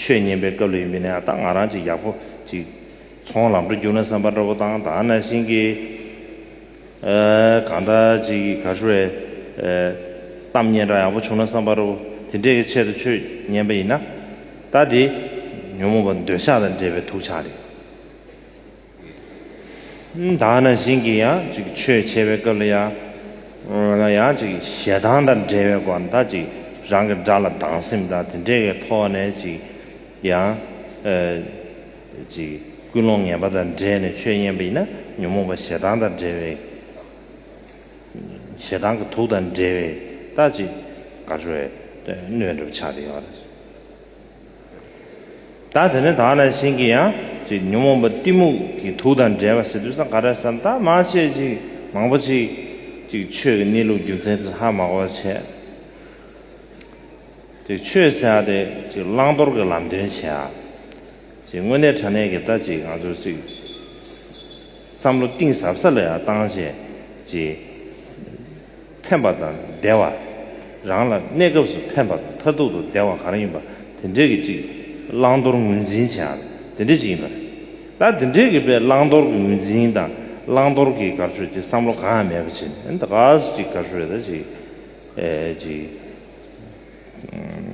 ཆོས་ཉན་པའི་སྐབས་ལས་མི་ནས་ཨ་ད་ང་རང་ཅིག་ཡག་པོ་ཅིག་ཚོང་ལམ་འགྲོ་རྒྱུག་ན་བསམ་པ་འདྲ་པོ་དང་ད་ན་ཤིང་གི་ཨ་གང་འདྲ་ཅིག་གི་ག་ཧྲུ་བའི་གཏམ་སྙན་འདྲ་ཡག་པོ་བྱུང་ན་བསམ་པ་འདྲ་པོ་དེ་འདྲས་ཀྱི་ཆེད་དུ་ཆོས་ཉན་པ་ཡིན་ན་ད་དེ་ཉོན་མོངས་པ་འདོད་ཆགས་དང་འདྲེས་པའི་དུག་ཆགས་རེད། དག་ན་བཞིན་གྱི་ཡང་ཅིག་ཆོས་འཆད་པའི་སྐབས་ལ་ཡང་ཡང་ཅིག་ཞེ་སྡང་དང་བྲལ་བའི་སྒོ་ནས་དག་ཅིག་རང་གི་དགྲ་ལ་སྡང་སེམས་དང་དེ་འདྲེས་པའི་ཐོག་ནས་ཅིག་ཡང་ཅིག་ཀུན་སློང་ངན་པ་དང་བྲལ་ནས་ཆོས་མཉན་པ་ཡིན་ན་ཉོན་མོངས་པ་ཞེ་སྡང་དང་བྲལ་བའི་ཞེ་སྡང་གི་དུག་དང་འདྲེས་པས་དག་ཅིག་དགའ་བྲོད་སྣོད་འགྲུབ་ཆགས་ཏེ་ཡོང་བ་རེད། བདག་དེ་ནི་དག་ན་བཞིན་གྱི་ཡང་ཅིག་ཉོན་མོངས་པ་གཏི་མུག་གི་དུག་དང་འདྲེས་པ་ཟིལ་གྱིས་སང་ག་རེ་སམ་དག་མ་བྱེད་ཅིག་མང་པོ་ཅིག། ཅིག་ཆོས་ཀྱི་གནས་ལུགས་རྒྱུ་མཚན་དུ་ལྷག་མ་གོ་བར་བྱེད། ཅིག་ཆོས་ཟད་ཨ་དེ་ཅིག་བླང་དོར་གྱི་ལམ་སྟོན་བྱེད་ཨ། ཅིག་དངོས་གནས་དྲང་གནས་ཀྱི་ལྟ་ཅིག་ང་ཚོར་ཅིག། བསམ་བློ་གཏིང་ཟབ་ས་ལས་ཨ་བཏང་བྱེད་ཅིག། ཕན་པ་དང་བདེ་བ། རང་ལ་གནས་སྐབས་སུ་ཕན་པ་དང་མཐར་ཐུག་ཏུ་བདེ་བ་གང་ཡིན་པ་དེ་འདྲས་ཀྱི་ཅིག་བླང་དོར་ངོས་འཛིན་བྱེད་ཡང་དེ་འདྲས་ཅིག་ཡིན་པ་རེད། ད་དེ་འདྲས་ཀྱི་དཔེ་བླང་དོར་གྱི་ངོས་འཛིན་དང་བླང་དོར་གྱི་དགག་ཆོས་ཀྱི་བསམ་བློ་གང་ཡང་མེད་པ་བྱས་ནས་ད་གཟས་ཅིག་དགག་ཆོས་ད་ཅིག་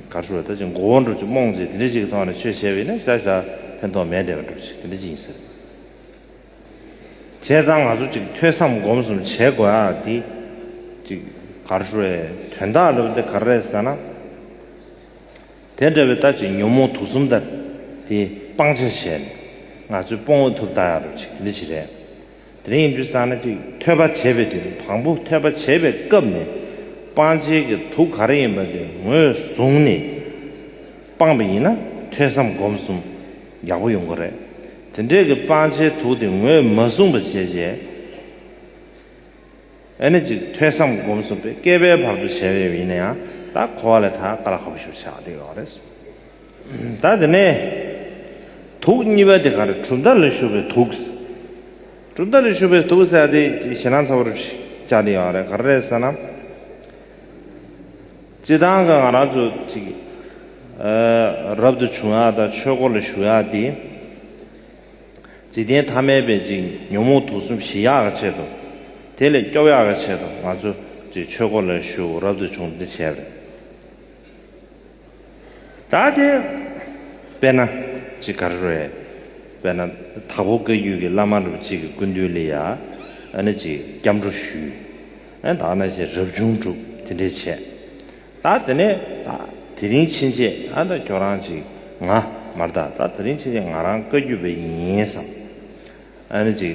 དགག་ཆོས་ད་ཅིག་མགོ་བོ་འགྲོ་ཅིག་རྨོངས་ཅིག་དེ་འདྲས་ཅིག་གི་ཐོག་ནས་ཆོས་བྱས་པ་ཡིན་ན་ཞག་ཞག་ཕན་ཐོག་མེད་བདེ་བ་འགྲོ་ཅིག་དེ་འདྲས་ཅིག་ཡིན་ཟེར། བྱས་ཙང་ང་ཚོ་ཅིག་ཐོས་བསམ་སྒོམ་གསུམ་བྱེད་དགོས་ཨ་དེ། ཅིག་གར་ཧྲུལ་བའི་དོན་དག་ལབ་དེ་ག་རེད་ཟེར་ན། དེ་འདྲ་བའི་ལྟ་ཅིག་ཉོན་མོངས་དུག་གསུམ་ལྟ་དེ་སྤང་བྱ་བྱས་ནས་ང་ཚོའི་སྤོང་བ་ཐུབ་ད་ཡག་རེད་ཅིག་འདི་ཅིག་རེད། དེ་རིང་ཡིན་དུས་བསམ་ན་ཅིག་ཐོས་པ་བྱེད་པའི་དུས་དང་པོ་ཐོས་པ་བྱེད་པའི་སྐབས་ནས་སྤང་བྱེད་ཀྱི་དུག་ག་རེ་ཡིན་པ་དེ་ངོས་བཟུང་ནས་སྤངས་པ་ཡིན་ན་ཐོས་བསམ་སྒོམ་གསུམ་ཡག་པོ་ཡོང་གི་རེད། དེ་འདྲས་ཀྱི་སྤང་བྱའི་དུག་དེ་ངོས་མ་བཟུང་བ་བྱས་རྗེས། ཨེ་ནི་ཅིག་ཐོས་བསམ་སྒོམ་གསུམ་པའི་བསྐལ་པའི་བར་དུ་བྱས་པའི་ཡིན་ན་ཡང་ད་གོ་བ་ལས་ཐ་ཀ་ལ་ཧ་པོ་ཞིག་ཆགས་འདུག་ཡོད་རེད། ད་དེ་ནས། དུག་གཉིས་པ་དེ་ག་རེ་གྲུབ་མཐའ་ལས་ཞུགས་པའི་དུག། གྲུབ་མཐའ་ལས་ཞུགས་པའི་དུག་ཟེར་ཡ་དེ་ཞེ་སྣང་ཚ་བོ་རེ་ཞིག་ཆགས་འདུག་ཡོད་རེད་ག་རེ་རེད་ཟེར་ན། བརྩེ་འདང་གི་ང་རང་ཚོ་ཅིག་རབ་ཏུ་བྱུང་ཡག་དང་ཆོས་སྐོར་ལ་ཞུགས་ཡག་དེ། འཇིག་རྟེན་ཐ་མལ་པའི་ཅིག་ཉོན་མོངས་དུག་གསུམ་ཞི་ཡག་གི་ཆེད་དུ། དེ་ལས་སྐྱོབ་ཡག་གི་ཆེད་དུ་ང་ཚོ་ཅིག་ཆོས་སྐོར་ལ་ཞུགས་རབ་ཏུ་བྱུང་འདི་བྱས་རེད། ད་དེ་དཔེར་ན་ཅིག་ག་རེ་རེད་དཔེར་ན་དྭགས་པོ་བཀའ་བརྒྱུད་ཀྱི་བླ་མ་རབ་ཅིག་གི་སྐུ་མདུན་ལས་ཡག་ནི་ཅིག་སྐྱབས་འགྲོ་ཞུས། ཨན་དག་ན་ཞེས་རབ་བྱུང་དྲུག་དེ་འདྲས་བྱས། ད་དེ་ནས་ད་དེ་རིང་ཕྱིན་ཆད་ཨན་དག་ཁྱོད་རང་ཅིག་ང་མར་ད་ད་དེ་རིང་ཕྱིན་ཆད་ང་རང་བཀའ་རྒྱུད་པ་ཡིན་བསམ། ཨན་ཅིག་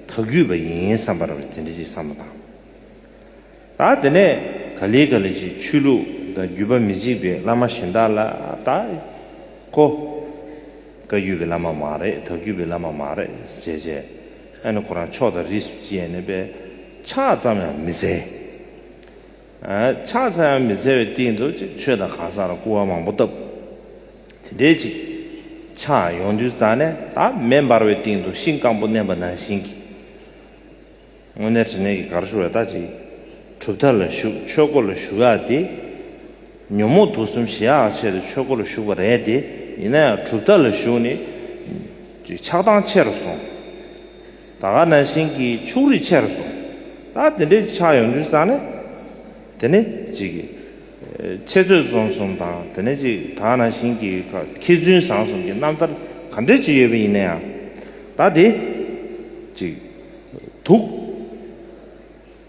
དག་རྒྱུད་པ་ཡིན་བསམ་པར་དེ་འདྲས་ཅིག་བསམ་པ་དང། ད་དེ་ནས་ག་ལི་ག་ལི་ཞིག་ཆོས་ལུགས་དང་རྒྱུད་པ་མི་གཅིག་པའི་བླ་མ་གཞན་དག་ལ་ད་ཁོ་བཀའ་རྒྱུད་པའི་བླ་མ་མ་རེད་དག་རྒྱུད་པའི་བླ་མ་མ་རེད་ཅེས་བྱས། ཨེ་ན་ཁོ་རང་ཕྱོགས་དང་རིས་སུ་བཅད་ནས་པས་ཕྱག་ཙམ་ཡང་མི་འཚལ། ཕྱག་འཚལ་ཡང་མི་འཚལ་བའི་སྟེང་དུ་ཅིག་ཆོས་དང་གང་ཟག་ལ་སྐུར་བ་མང་པོ་བཏབ། དེ་འདྲའི་ཅིག་ཕྱག་ཡོངས་འདུས་བསགས་ནས་བདག་མེ་འབར་བའི་སྟེང་དུ་ཤིང་སྐམ་པོ་མནན་པ་ན་ཤིང་གི་སྔོན་ནས་དྲི་ནས་ཀྱི་གར་ཤོར་བས་བདག་ཅིག་གྲུབ་མཐའ་ལ་བཞུགས་ཆོས་སྒོ་ལ་བཞུགས་ཡ་སྟེ། ཉོན་མོངས་དུག་གསུམ་ཞི་ཡག་ཆེད་དུ་ཆོས་སྒོ་ལ་ཞུགས་པ་རེད་དེ། ཡིན་ན་ཡང་གྲུབ་མཐའ་ལ་ཞུགས་ནས། ཆགས་སྡང་ཆེ་རུ་སོང། ད་ག་ན་ཞིང་གི་ཕྱུགས་རིགས་ཆེ་རུ་སོང། ད་དེ་འདྲའི་ཆགས་ཡོང་དུས་བསམ་ནས། དེ་ནས་ཅིག། འཆད་རྩོད་རྩོམ་གསུམ་དང་དེ་ནས་ཅིག་ད་ག་ན་ཞིང་གི་མཁས་བཙུན་བཟང་གསུམ་གྱི་རྣམ་ཐར་ག་འདྲས་ཅིག་ཡོད་པ་ཡིན་ན་ཡང། ད་དེ། ཅིག། དུག།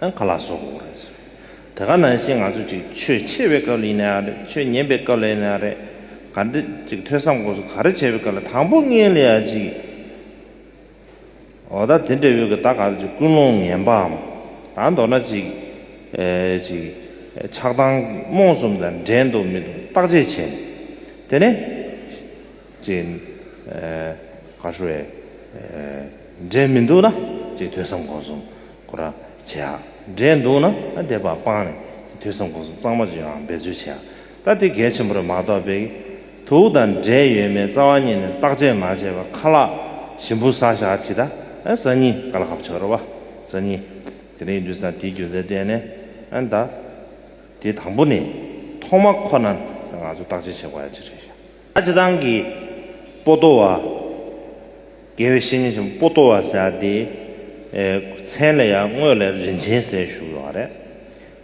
ཨ་ཁ་ལ་སོགས་པ་བོར་རེད། དེ་ག་ནང་བཞིན་ང་ཚོ་ཅིག་ཆོས་ཆེ་བའི་སྐབས་ལ་ཡིན་ནའང་རེད་ཆོས་ཉན་པའི་སྐབས་ལ་ཡིན་ནའང་རེད། ག་འདི་ཅིག་ཐོས་བསམ་སྒོམ་གསུམ་ག་རེ་བྱེད་པའི་སྐབས་ལ་དང་པོ་ངེས་ལེ་ཡ་ཅིག་ཡིན། འོ་ད་དེ་འདྲའི་འོས་ཀྱི་ད་ག་རེ་ཅིག་ཀུན་སློང་ངན་པའམ་ད་མདོར་ན་ཅིག་ཅིག་ཆགས་སྡང་རྨོངས་གསུམ་དང་འགྲན་འདུག་མི་འདུག་བརྟག་དཔྱད་བྱས་ནས་དེ་ནས། ཅན། ག་ཧྲུ་ཨེ། འབྲས་མི་འདུག་ན་ཅེས་ཐོས་བསམ་སྒོམ་གསུམ་གོ་ར་བྱེད་ཨ། འབྲས་འདུག་ན་དེ་བར་སྤངས་ནས་ཅེས་ཐོས་བསམ་སྒོམ་གསུམ་གཙང་མ་བརྗོད་ཨང་འབད་རྩོལ་བྱེད་ཨ། ད་དེ་གལ་ཆེན་པོར་མ་རྟོགས་པས། དུག་དང་འབྲས་ཡོད་མེད་རྩ་བ་ཉིད་ནས་བརྟག་དཔྱད་མ་བྱས་པར་ཁ་ལག་ཞིམ་པོ་ཟ་བཞག་ཇི་ལྟ་ཨེ་ཟ་གཉིས་ཀ་ལ་ཧབ་ཆོག་རེད་བ་ཟ་གཉིས། དེ་རིང་འདུས་སར་དེའི་རྒྱུ་མཚན་བལྟས་ནས་ཨ་འདའ། དེ་དང་པོ་ནས་ཐོག་མ་ཁོ་ན་ང་ཚོ་བརྟག་དཔྱད་བྱེད་དགོས་ཨ་ཅི་རེད་བཞག། ཨ་ཅེ་ཐང་གིས། པོ་ཏོ་བ། དགེ་བའི་བཤེས་གཉེན་ཆེན་པོ་པོ་ཏོ་བ་ཟེར་བ་དེའི། མཚན་ལ་ཡང་དངོས་ལས་རིན་ཆེན་ཟེར་བཞུགས་ཡོད་པ་རེད།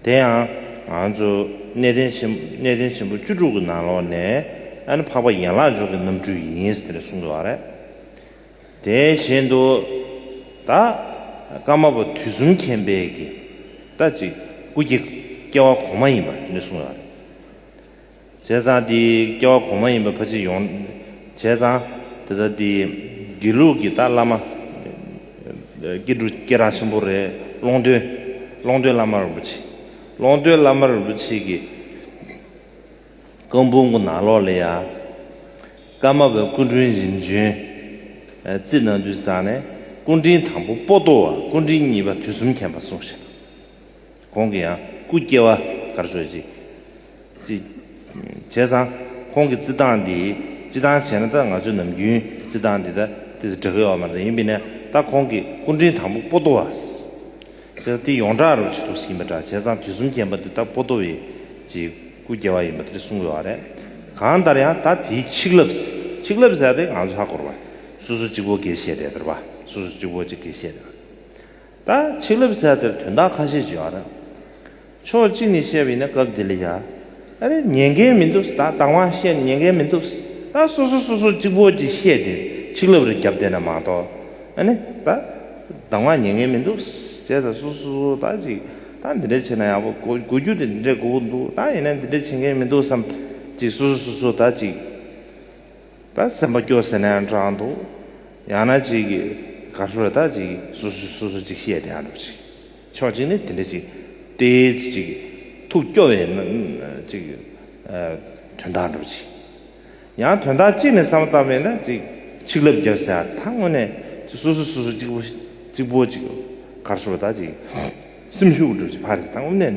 དེ་ཡང། ང་ཚོ། གནས་བརྟན་ཆེན། གནས་བརྟན་ཆེན་པོ་བཅུ་དྲུག་གི་ནང་ལོགས་ནས། ཨ་ནི་འཕགས་པ་ཡན་ལག་འཇོག་གི་རྣམ་འཕྲུལ་ཡིན་ཟེར་ཏེ་གསུངས་ཡོད་པ་རེད། དེ་བཞིན་དུ། ད། ཀརྨ་པ་དུས་གསུམ་མཁྱེན་དཔལ་གྱིས། ད་ཅིག་སྐུ་སྐྱེ། སྐྱེ་བ་གོང་མ་ཡིན་པ་ཅི་ནས་གསུངས་ཡོད་པ་རེད། བྱས་ཙང་དེའི་སྐྱེ་བ་གོང་མ་ཡིན་པ་ཕ་ཕྱིར་ཡོང། བྱས་ཙང། དེ་ལྟར་དེ། དགེ་ལུགས་ཀྱི་ཏཱ་བླ་མ། སྐྱེ་དྲུག་སྐྱེ་རང་ཆེན་པོ་རེད། ཀློང་སྟོན། ཀློང་སྟོན་བླ་མ་རིན་པོ་ཆེ། ཀློང་སྟོན་བླ་མ་རིན་པོ་ཆེ་གི། རྐང་སྤུན་གོ་ནག་ལོག་ལེ་ཡ། ཀརྨ་པའི་སྐུ་དྲུང་རིམ་བྱོན། རྩིས་ནང་དུ་བསགས་ནས། སྐུ་དྲིན་དང་པོ་པོ་ཏོ་བ་སྐུ་དྲིན་གཉིས་པ་དུས་གསུམ་མཁྱེན་པ་གསུངས་ཤིང། གོང་གི་ཡང་སྐུ་སྐྱེ་བ་གར་སོད་ཅིག། ཅེས་བྱས་ཙང་ཁོང་གི་རྩི་སྟངས་འདིས་སྤྱི་སྟངས་བྱས་ན་ད་ང་ཚོའི་ནམ་རྒྱུན་རྩི་སྟངས་འདི་ད་དེ་ཚོ་འདྲ་གི་ཨོ་མ་རེད་ཡིན་པས་ན་ད་ཁོང་གི་སྐུ་འཕྲེང་དང་པོ་པོ་ཏོ་བ། བྱས་ཙང་དེ་ཡོངས་གྲགས་རུ་ཆེ་མཐོ་ཟིན་པ་འདྲ་བྱས་ཙང་དུས་གསུམ་མཁྱེན་པ་འདི་ད་པོ་ཏོ་བའི་ཀྱི་སྐུ་སྐྱེ་བ་ཡིན་པ་དེ་གསུང་དགོས་བ་རེད། གང་ལྟར་ཡང་ད་དེའི་ཆིག་ལབས་ཆིག་ལབས་ཟེར་ཡ་དེ་ང་ཚོ་ཧ་གོ་རུ་བ། སོ་སོ་གཅིག་པོ་དགེ་བཤེས་རེད་དར་བ་སོ་སོ་གཅིག་པོ་ཅིག་དགེ་བཤེས་རེད། ད་ཆིག་ལབ་ཚལ་དེར་དོན་དག་ཁ་ཤས་བྱུང་བ་རེད། ཕྱོགས་གཅིག་ནས་བཤད་པ་ཡིན་ན་སྐབས་དེ་ལ་ཡ། ཨ་རེ་ཉན་མཁན་མི་འདུག་ད་དང་བ་བཤད་ནས་ཉན་མཁན་མི་འདུག་ད་སོ་སོ་སོ་སོ་གཅིག་པོ་གཅིག་བཤད་དེ་ཆིག་ལབ་རེ་བརྒྱབ་བསྡད་ན་མ་གཏོགས་ཨ་ནི་ད། དང་བ་ཉན་མཁན་མི་འདུག་ཅེས་ད་སོ་སོ་སོ་ད་ཅིག་ད་འདི་འདྲ་བྱས་ན་ཡག་པོ་གོ་གོ་རྒྱུ་དེ་འདི་འདྲས་གོ་གི་འདུག་ད་ཡིན་ན་འདི་འདྲ་བྱེད་མཁན་མི་འདུག་བསམ་ཅིག་སོ་སོ་སོ་སོ་ད་ཅིག། ད་སེམས་པ་སྐྱོ་ཟེར་ནའང་བགྲང་འདུག་ཡང་ན་ཅིག་གིས་དགའ་ཤོས་རེ་ད་ཅིག་སུ་སུས་སུ་སུ་ཅིག་བཤད་བསྡད་ཡང་འགྲོ་གི་ཅིག་ཕྱོགས་གཅིག་ནས་དེ་འདྲ་ཅིག་སྟེ་ཅིག་ཐུགས་སྐྱོ་བའི་ཅིག་དོན་དག་འགྲོ་གི་ཅིག་ཡང་དོན་དག་གཅིག་ནས་བསམ་བཏང་བས་ན་ཅིག་ཆིག་ལབ་རྒྱབ་ཟེར་ཡང་ད་དངོས་ནས་ཅིག་སུ་སུས་སུ་སུ་ཅིག་པོ་ཅིག་པོ་ཅིག་དགའ་ཤོས་རེ་ད་ཅིག་སེམས་ཤུགས་འགྲུབ་ཅིག་ཕར་ཟེར་ད་དངོས་ནས།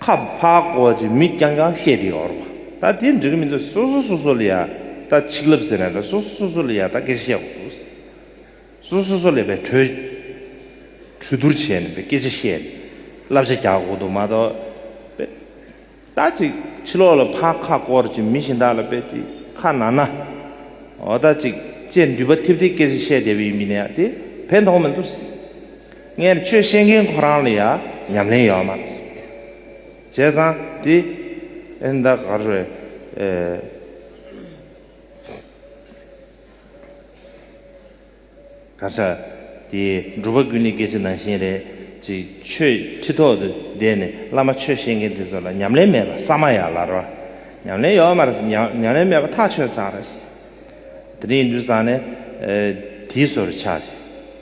ཁ་ཕག་སྐོར་ཅིག་མི་རྐྱང་རྐྱང་བཤད་དེ་འོར་བ། ད་དེ་འགྲིག་གི་མི་འདུག་སོ་སོ་སོ་སོ་ལ་ཡང་ད་ཆིག་ལབ་ཟེར་ན་ད་སོ་སོ་སོ་སོ་ལ་ཡང་ད་སྐད་ཆ་བཤད་དགོས་འདུག། སོ་སོ་སོ་སོ་ལས་པའི་གྲོས། གྲོས་བསྡུར་བྱས་ནས་སྐད་ཆ་བཤད་ནས་བསླབ་བྱ་རྒྱག་དགོས་འདུག་མ་གཏོགས། ད་ཅིག་ཕྱི་ལོག་ལ་ཕག་ཁ་སྐོར་ཅིག་མི་གཞན་དག་ལ་དཔེ་ཅིག་ཁ་ན་ན། འོ་ད་ཅིག་ཅེས་མདུད་པ་འཐིབ་སྟེ་སྐད་ཆ་བཤད་བསྡད་པ་ཡིན་མིན་ཡང་དེ་ཕན་ཐོགས་མི་འདུག། ངས་ཁྱོད་བཤད་མཁན་ཁོ་རང་ལ་ཡང་ཉམས་ལེན་ཡོད་མ་རེད། བྱས་ཙང་དེ་ཨེ་འདའ་ག་རེད། ད་ཆ་དེ་འགྲུལ་པ་ཀུན་ནས་སྐད་ཆ་ནང་བཞིན་རེད་ཅེས་ཆོས་ཁྲི་ཐོག་ཏུ་བསྡད་ནས་བླ་མ་ཆོས་བཤད་མཁན་དེ་ཚོ་ལ་ཉམས་ལེན་མེད་པ་ས་མ་ཡ་ལ་རོ། ཉམས་ལེན་ཡོད་མ་རེད། ཉམས་ལེན་མེད་པ་ཐག་ཆོད་ཙང་རེད། དེ་རིང་འདུས་ཙང་ནས་དེའི་སོར་ཆགས་ཤིག།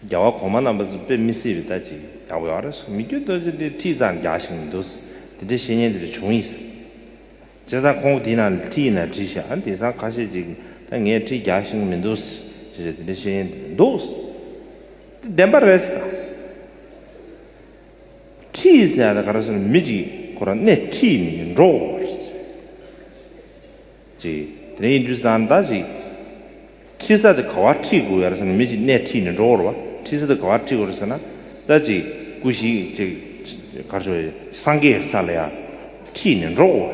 རྒྱལ་བ་གོང་མ་རྣམས་པ་ཚོས་དཔེ་མི་སྲིད་པའི་ལྟ་ཅི། ཡར་ཞིག་མི་བསྐྱོད་ལྟོས་ཆོས་འདིར་ཁྲིད་ཙང་རྒྱག་བཞིན་མི་འདུག། དེ་འདྲའི་བཤེས་གཉེན་དེར་བྱུང་ཡིན་སྲིད། བྱས་ཙང་ཁོང་གིས་དེ་ནང་ལ་ཁྲིད་ཡིན་ན་ཁྲིད་ཤག་ཨ་དེང་སང་ཁ་ཤས་ཅིག་ད་ངས་ཁྲིད་རྒྱག་བཞིན་མི་འདུག། ཅེས་བྱས་དེ་འདྲའི་བཤེས་གཉེན་དེ་མི་འདུག། དེ་བདེན་པ་རེད། ཁྲིད་ཟེར་ཡག་ད་ག་རེ་ཟེར་མི་གཅིག་ཁོ་རང་གནས་ཁྲིད་ནས་འགྲོ། ཅེས་དེ་ནས་ཡིན་དུས་བཟའ་ཟླ་ཞིག་ཁྲིད་ས་དེ་ག་བར་ཁྲིད་དགོས་ཡ་རེད་ཟེར་ན་མི་ཞིག་སྣེ་ཁྲིད་ནས་འགྲོ་འོར་བ་ཁྲིད་ས་དེ་ག་བར་ཁྲིད་དགོས་རེད་ཟེར་ན་སྐྲ་ཅིག་སྐུ་ཞིག་ཅེས་གར་ཆོས་སངས་རྒྱས་ས་ལ་ཡང་ཁྲིད་ནས་འགྲོ་འོར་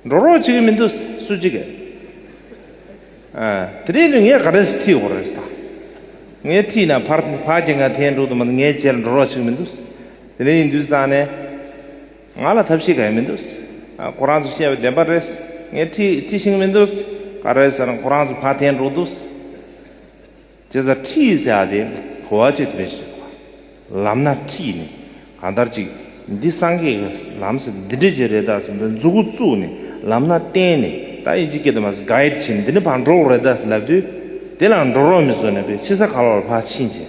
འགྲོ་རོགས་བྱེད་ཀྱི་མི་འདུག་སུ་བྱེད་ཀྱི་ཨེ་དེ་ནས་ངས་ག་རེ་ཁྲིད་འོར་རེད་ད་ངས་ཁྲིད་ན་ཕར་ཕར་གྱི་ང་ཐན་འགྲོ་དུ་མ་ངའི་རྗེས་ལ་འགྲོ་རོགས་བྱེད་ཀྱི་མི་འདུག་དེ་ནས་ཡིན་དུས་བཟའ་ཟླས། ང་ལ་ཐབས་ཤེས་ག་ཡང་མི་འདུག། ཁོ་རང་ཚོ་བཤད་པ་བདེན་པ་རེད། ངས་ཁྲིད་ཁྲིད་ཤིང་མི་འདུག། ག་རེད་ཟེར་ན་ཁོ་རང་ཚོ་ཕ་འཐེན་རོགས་འདུག། ཅེས་ཟེར་ཁྲིད་ཟེར་བ་དེ་གོ་བ་ཅི་ཐུབ་རེད་ཞེས་གོ། ལམ་སྣ་ཁྲིད་ནས་གང་ལྟར་ཅིག་འདི་སངས་རྒྱས་ཀྱི་ལམ་ཟེར་འདི་འདྲ་ཅིག་རེད་ད་ཟེར་འདི་འཛུགས་བཙུགས་ནས་ལམ་སྣ་བསྟན་ནས་ད་ཡིན་ཅིག་སྐད་དུ་མ་ཟེར Guide བྱས་ནས་འདི་ནི་ཕར་འགྲོ་རོགས་རེད་ད་ཟེར་ལབ་དུས། དེ་ལའང་འགྲོ་རོགས་མི་བཟོ་ནས་པའི་ཕྱི་ས་ག་ལ་བར་ཕར་ཕྱིན་བྱས།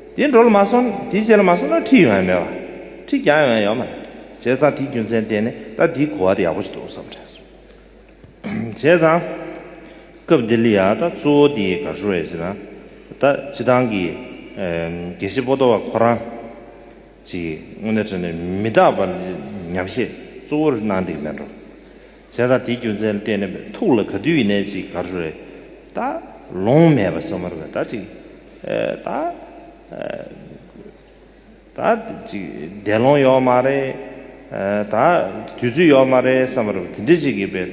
དེ་འགྲོ་ལ་མ་སོང་དེ་བྱེད་ལ་མ་སོང་ན་ཁྲིད་ཡོང་ཡ་མེད་བ། ཁྲིད་རྒྱག་ཡོང་ཡ་ཡོད་མ་རེད། བྱས་ཙང་དེའི་རྒྱུ་མཚན་བསྟན་ནས་ད་དེའི་གོ་བ་དེ་ཡག་པོ་ཞིག་འདུག་བསམ་དྲན་སོང། བྱས་ཙང། སྐབས་འདི་ལ་ཡ་ད་གཙོ་བོ་དེ་ག་ཞུ་བ་ཡིན་ཟེར་ན། ད་སྤྱི་བཏང་གི། དགེ་བཤེས་པོ་ཏོ་བ་ཁོ་རང། ཅིག་དངོས་གནས་བྲིས་ནས་མི་རྟག་པར་ཉམས་བཞེས་གཙོ་བོར་གནང་འདེགས་མེད་འགྲོ། བྱས་དང་དེའི་རྒྱུ་མཚན་བལྟས་ནས་ཐུགས་ལ་ག་དུས་ཡིན་ནས་ཅིག་གར་རེ་ད། ལོང་མེད་པ་ཟ་མ་རེ་བས་ད་ཅིག། ད། ད། ཅིག་འདས་ལོང་ཡོད་མ་རེད། ད། དུས་ཚོད་ཡོད་མ་རེད་བསམ་པ་རེ་བ་དེ་འདྲས་ཅིག་གིས་པས་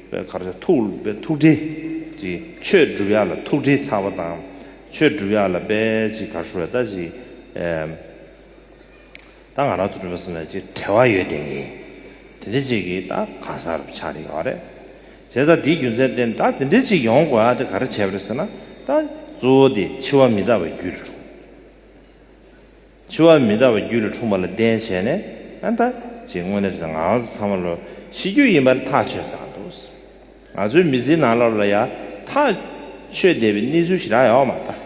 པས་གར་རེ་ཐུགས་པས་ཐུགས་བྲེལ་ཅིག་ཆོས་བསྒྲུབ་ཡག་ལ་ཐུགས་བྲེལ་ཚ་བ་དང་ཆོས་བསྒྲུབ་ཡག་ལ་པས་ཅིག་གར་རེ་བས་ད་ཅིག། ད་ང་རང་ཚོ་གྲོ་མོ་སོ་ནས་ཅིག་བྲེལ་བ་ཡོད་དེ་ཡིན། དེ་འདྲི་ཅིག་གིས་ད་གང་ས་རུ་ཆགས་ཡོད་རེད། བྱས་ཙང་དེའི་རྒྱུ་མཚན་བསྟན་ད་དེ་འདྲི་ཅིག་ཡོང་དགོས་ཨ་དེ་ག་རེ་བྱས་པ་རེད་ཟེར་ན་ད་གཙོ་བོ་དེ་འཆི་བ་མི་འདྲ་བ་རྒྱུད་ལ་འཁྲུངས། འཆི་བ་མི་འདྲ་བ་རྒྱུད་ལ་འཁྲུངས་པ་ལ་བརྟེན་བྱས་ནས་ཨ་ད་ཅིག་དངོས་གནས་ང་རང་ཚོ་ཚང་མ་ལོ་ཤི་རྒྱུ་ཡིན་པར་ཐག་ཆོད་ཚར་འདུག་ང་ཚོའི་མི་ཚེའི་ནང་ལོ་ལ་ཡང་ཐག་ཆོད་བསྡད་པའི་གནས་ཚུལ་ཞིག་རག་ཡོད་མ་རེད།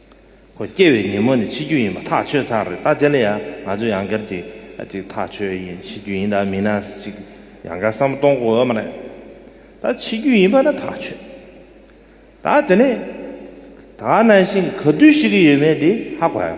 ཁོ་སྐྱེ་བའི་ཉིན་མོ་ནས་འཆི་རྒྱུ་ཡིན་པ་ཐག་ཆོད་ཚར་རེད་ད་དེ་ལ་ཡང་ང་ཚོས་ཡང་སྐར་གཅིག་གཅིག་ཐག་ཆོད་ཡིན་འཆི་རྒྱུ་ཡིན་ད་མི་ན་གཅིག་ཡང་སྐར་བསམ་བློ་གཏོང་དགོས་ཨེ་མ་རེད་ད་འཆི་རྒྱུ་ཡིན་པ་ན་ཐག་ཆོད་ད་དེ་ནས་ད་ན་བཞིན་ག་དུས་ཤི་གི་ཡོད་མེད་དེ་ཧ་གོ་ཡ།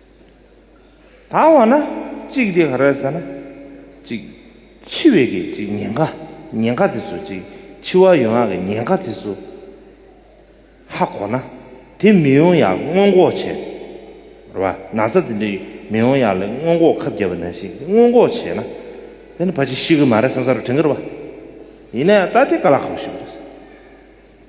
ད་འོ་ན་གཅིག་དེ་ག་རེད་ཟེར་ན། གཅིག་འཆི་བའི་གི་གཅིག་ཉེན་ཁ་ཉེན་ཁ་དེ་ཚོ་གཅིག་འཆི་བ་ཡོང་ཡག་གི་ཉེན་ཁ་དེ་ཚོ་ཧ་གོ་ན་དེ་མི་ཡོང་ཡག་སྔོན་འགོག་བྱས་རེད་བ་ན་ཚ་དེ་འདྲ་མི་ཡོང་ཡག་ལས་སྔོན་འགོག་ཁབ་རྒྱབ་པ་ན་ཞིག་གི་སྔོན་འགོག་བྱས་ན་དེ་ནི་ཕ་ཅིག་ཤི་གི་མ་རེད་བསམ་ས་རུ་དྲན་གི་རེད་བ། ཡིན་ན་ཡང་ད་དེ་ག་ལ་གོ་ཞིག་རེད།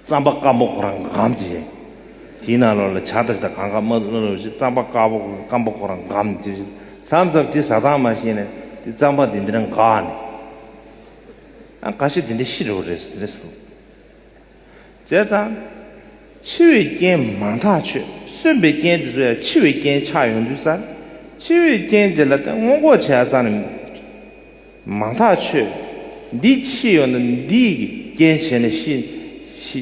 རྩམ་པ་དཀར་པོ་ཁོ་རང་འགམ་ཅི་བྱེད། དེའི་ནང་ལོགས་ལ་བྱ་དང་ཞེ་དང་གང་གང་མ་ལུས་ལོགས་ཞེས་རྩམ་པ་དཀར་པོ་སྐམ་པོ་ཁོ་རང་འགམ་ཅི་བྱེད། ཟམ་ཟབ་དེ་ཟ་ཐང་མ་ཤེས་ནས་དེ་རྩམ་པ་དེ་འདི་རང་འགག་ནས། ཨ་ག་ཤེད་དེ་འདྲས་ཤི་རོ་རེད་རེད་ཟེར། བྱས་ཙང། འཆི་བའི་རྐྱེན་མ་མཐའ་ཆོད་གསོན་པའི་རྐྱེན་དེ་ཚོ་ཡང་འཆི་བའི་རྐྱེན་ཆགས་ཡོང་དུས་སར། འཆི་བའི་རྐྱེན་དེ་ལ་སྔོན་འགོག་བྱས་ཙང། མང་ཐག་ཆོད། འདི་ཕྱི་ཡོད་ན་འདི་གི་རྐྱེན་བྱས་ནས་ཤི།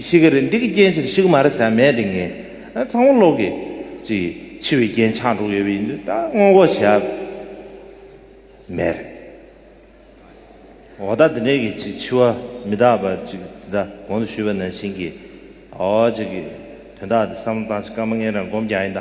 ཤི་གི་རེད་འདི་གི་རྐྱེན་བྱས་ནས་ཤི་གི་མ་རེད་ཟེར་ཡ་མེད་དེ་ངས་ཚང་བ་ལོག་གི། ཅིག་འཆི་བའི་རྐྱེན་ཆགས་འགྲོ་གི་ཡོད་པ་ཡིན་དུས་ད་སྔོན་འགོག་བྱས་ཡ་མེད་རེད། འོ་ད་དེ་འདྲའི་གི་ཅིག་འཆི་བ་མི་རྟག་པ་ཅིག་དེ་ད་གོང་དུ་ཞུས་པ་ནང་བཞིན་གི། འོ་ཅིག་གི་དོན་དག་དེ་བསམ་བློ་བཏང་ཅིག་སྐར་མ་ལྔའི་རང་སྒོམ་རྒྱག་ཡིན་ད།